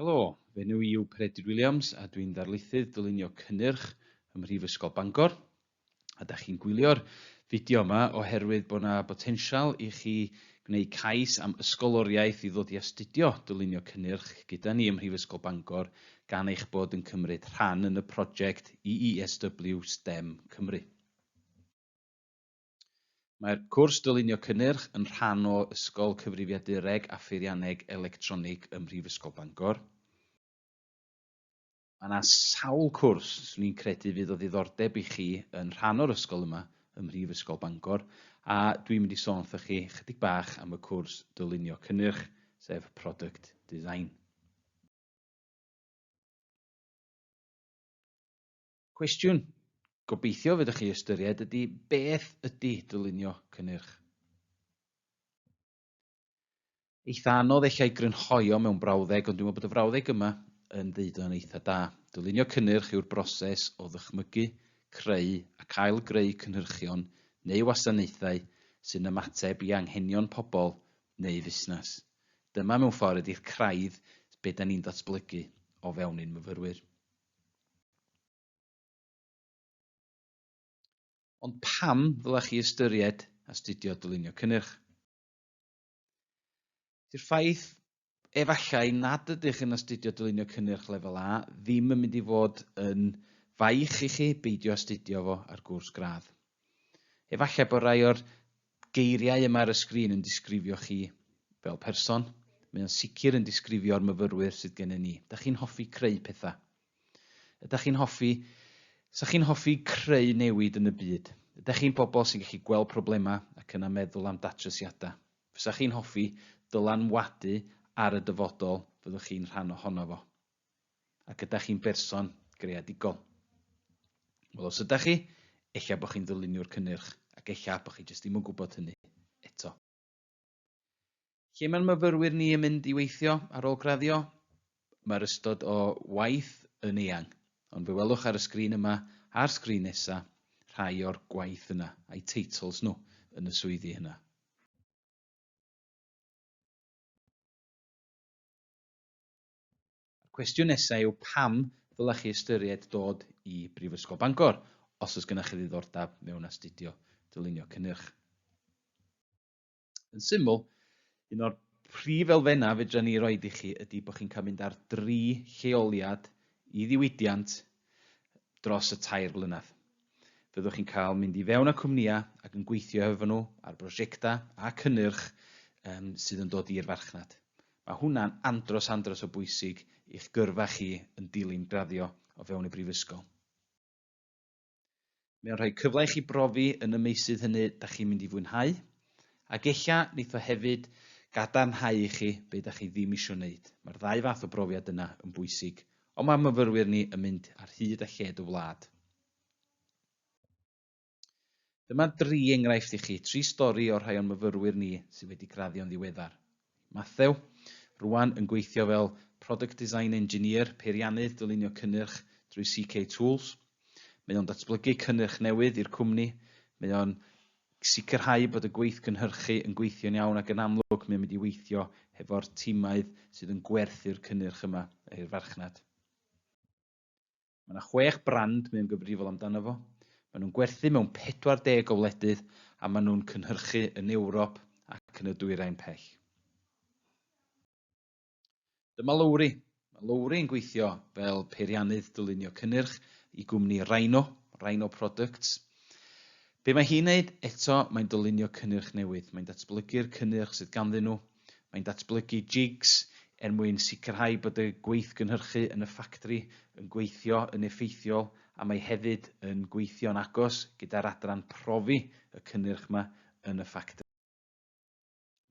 Helo, fy enw i yw Peredur Williams a dwi'n ddarlithydd dylunio cynnyrch ym Mhrifysgol Bangor. A da chi'n gwylio'r fideo yma oherwydd bod yna botensial i chi gwneud cais am ysgoloriaeth i ddod i astudio dylunio cynnyrch gyda ni ym Mhrifysgol Bangor gan eich bod yn cymryd rhan yn y prosiect EESW STEM Cymru. Mae'r cwrs Dylunio Cynnyrch yn rhan o Ysgol Cyfrifiadureg a Pheirianneg Electronig ym Mhrifysgol Bangor. Mae yna sawl cwrs swn i'n credu fydd o ddiddordeb i chi yn rhan o'r ysgol yma ym Mhrifysgol Bangor, a dwi'n mynd i sôn wrthoch chi chydig bach am y cwrs Dylunio Cynnyrch, sef Product Design. Cwestiwn gobeithio fydych chi ystyried ydy beth ydy dylunio cynnyrch? Eitha anodd eich ei grynhoi o mewn brawddeg, ond dwi'n meddwl bod y frawddeg yma yn ddeud o'n eitha da. Dylunio cynnyrch yw'r broses o ddychmygu, creu a cael greu cynhyrchion neu wasanaethau sy'n ymateb i anghenion pobl neu fusnes. Dyma mewn ffordd ydy'r craidd be da ni'n datblygu o fewn ein myfyrwyr. Ond pam ddylech chi ystyried astudio dylunio cynnyrch? Dydy'r ffaith, efallai, nad ydych yn astudio dylunio cynnyrch lefel A ddim yn mynd i fod yn faich i chi beidio astudio fo ar gwrs gradd. Efallai bod rhai o'r geiriau yma ar y sgrin yn disgrifio chi fel person, mae o'n sicr yn disgrifio'r myfyrwyr sydd gennym ni. Ydych chi'n hoffi creu pethau? Ydych chi'n hoffi... Sa chi'n hoffi creu newid yn y byd? Ydych chi'n bobl sy'n gallu gweld problemau ac yna meddwl am datrysiadau? Fysa chi'n hoffi dylanwadu ar y dyfodol fyddwch chi'n rhan ohono fo? a gyda chi'n berson greadigol. Wel, os ydych chi, ella bod chi'n ddyluniwr cynnyrch, ac ella bod chi jyst ddim yn gwybod hynny eto. Lle mae'n myfyrwyr ni yn mynd i weithio ar ôl graddio? Mae'r ystod o waith yn eang, ond fe welwch ar y sgrin yma a'r sgrin nesa rhai o'r gwaith yna, a'i teitls nhw yn y swyddi yna. A'r cwestiwn nesaf yw pam ddylech chi ystyried dod i Brifysgol Bangor os oes gennych chi ddiddordeb mewn astudio dylunio cynnyrch? Yn syml, un o'r prif elfennau fedra ni roi i chi ydy bod chi'n cael mynd ar dri lleoliad i ddiwydiant dros y tair blynedd. Fyddwch chi'n cael mynd i fewn â cwmnïau ac yn gweithio hefo nhw ar brosiectau a cynnyrch um, sydd yn dod i'r farchnad. Mae hwnna'n andros andros o bwysig i'ch gyrfa chi yn dilyn graddio o fewn y Brifysgol. Mae o'n rhoi cyfle i chi brofi yn y meysydd hynny da chi'n mynd i fwynhau, ac ella neith o hefyd gadarnhau i chi be da chi ddim isio neud. Mae'r ddau fath o brofiad yna yn bwysig, ond mae myfyrwyr ni yn mynd ar hyd a lled y wlad. Dyma dri enghraifft i chi, tri stori o'r rhai o'n myfyrwyr ni sydd wedi graddio'n ddiweddar. Mathew, rwan yn gweithio fel Product Design Engineer, Peiriannydd Dylunio Cynnyrch drwy CK Tools. Mae o'n datblygu cynnyrch newydd i'r cwmni, mae o'n sicrhau bod y gweith gynhyrchu yn gweithio'n iawn ac yn amlwg mae'n mynd i weithio hefo'r timau sydd yn gwerthu'r cynnyrch yma i'r farchnad. Mae yna chwech brand mae o'n gyfrifol amdano fo. Maen nhw'n gwerthu mewn 40 o wledydd a maen nhw'n cynhyrchu yn Ewrop ac yn y Dwyrain Pell. Dyma Lowri. Mae Lowri yn gweithio fel peiriannydd dylunio cynnyrch i gwmni Rhino, Rhino Products. Be mae hi'n wneud? Eto, mae'n dylunio cynnyrch newydd. Mae'n datblygu'r cynnyrch sydd ganddyn nhw, Mae'n datblygu jigs er mwyn sicrhau bod y gweithgynhyrchu yn y ffactri yn gweithio yn effeithiol a mae hefyd yn gweithio'n agos gyda'r adran profi y cynnyrch yma yn y ffactri.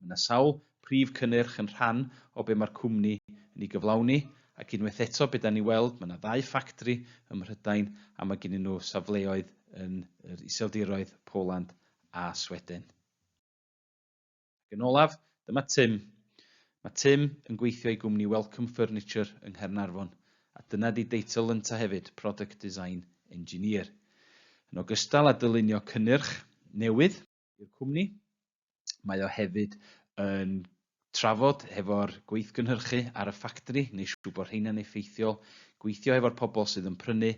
Mae yna sawl prif cynnyrch yn rhan o be mae'r cwmni yn ei gyflawni ac unwaith eto be dan ni'n weld mae yna ddau ffactri ym Mhrydain a mae gennyn nhw safleoedd yn yr Iseldiroedd, Poland a Sweden. Ac yn olaf, dyma Tim. Mae Tim yn gweithio i gwmni Welcome Furniture yng Nghaernarfon, a dyna di deitl ynta hefyd, Product Design Engineer. Yn ogystal â dylunio cynnyrch newydd i'r cwmni, mae o hefyd yn trafod hefo'r gweithgynhyrchu ar y ffactri, neu siŵr bod rheina'n effeithiol, gweithio hefo'r pobl sydd yn prynu,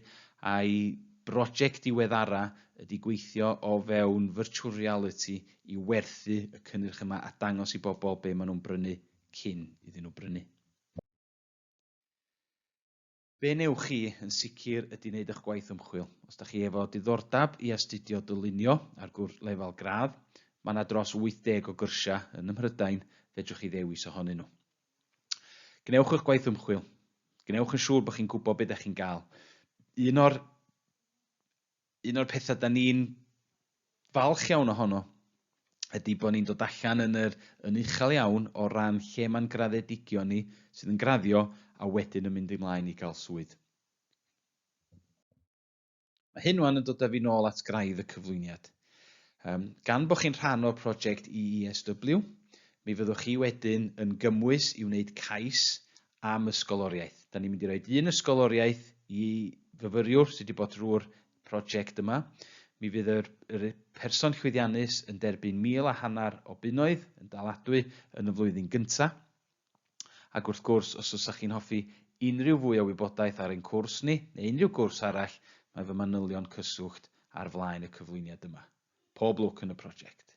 a'i broject diweddara ydi gweithio o fewn virtual reality i werthu y cynnyrch yma a dangos i bobl be' ma' nhw'n brynu cyn iddyn nhw brynu. Be' wnewch chi yn sicr ydi neud y'ch gwaith ymchwil. Os 'da chi efo diddordab i astudio dylunio ar gwrs lefel gradd, ma' 'na dros 80 o gyrsia yn ym Mhrydain fedrwch chi ddewis ohonyn nhw. Gwnewch y'ch gwaith ymchwil. Gwnewch yn siŵr bo' chi'n gwbo be' 'da chi'n ga'l. Un o'r un o'r pethau da ni'n falch iawn ohono ydy bod ni'n dod allan yn yr yn uchel iawn o ran lle mae'n graddedigion ni sydd yn graddio a wedyn yn mynd i mlaen i gael swydd. Mae hyn wan yn dod â fi nôl at graidd y cyflwyniad. Um, gan bod chi'n rhan o'r prosiect EESW, mi fyddwch chi wedyn yn gymwys i wneud cais am ysgoloriaeth. Da ni'n mynd i roi un ysgoloriaeth i fyfyriwr sydd wedi bod drwy'r prosiect yma. Mi fydd yr, yr person llwyddiannus yn derbyn mil a hanner o bunnoedd yn daladwy yn y flwyddyn gyntaf. Ac wrth gwrs, os ydych chi'n hoffi unrhyw fwy o wybodaeth ar ein cwrs ni, neu unrhyw gwrs arall, mae fy manylion cyswllt ar flaen y cyflwyniad yma. Pob lwc yn y prosiect.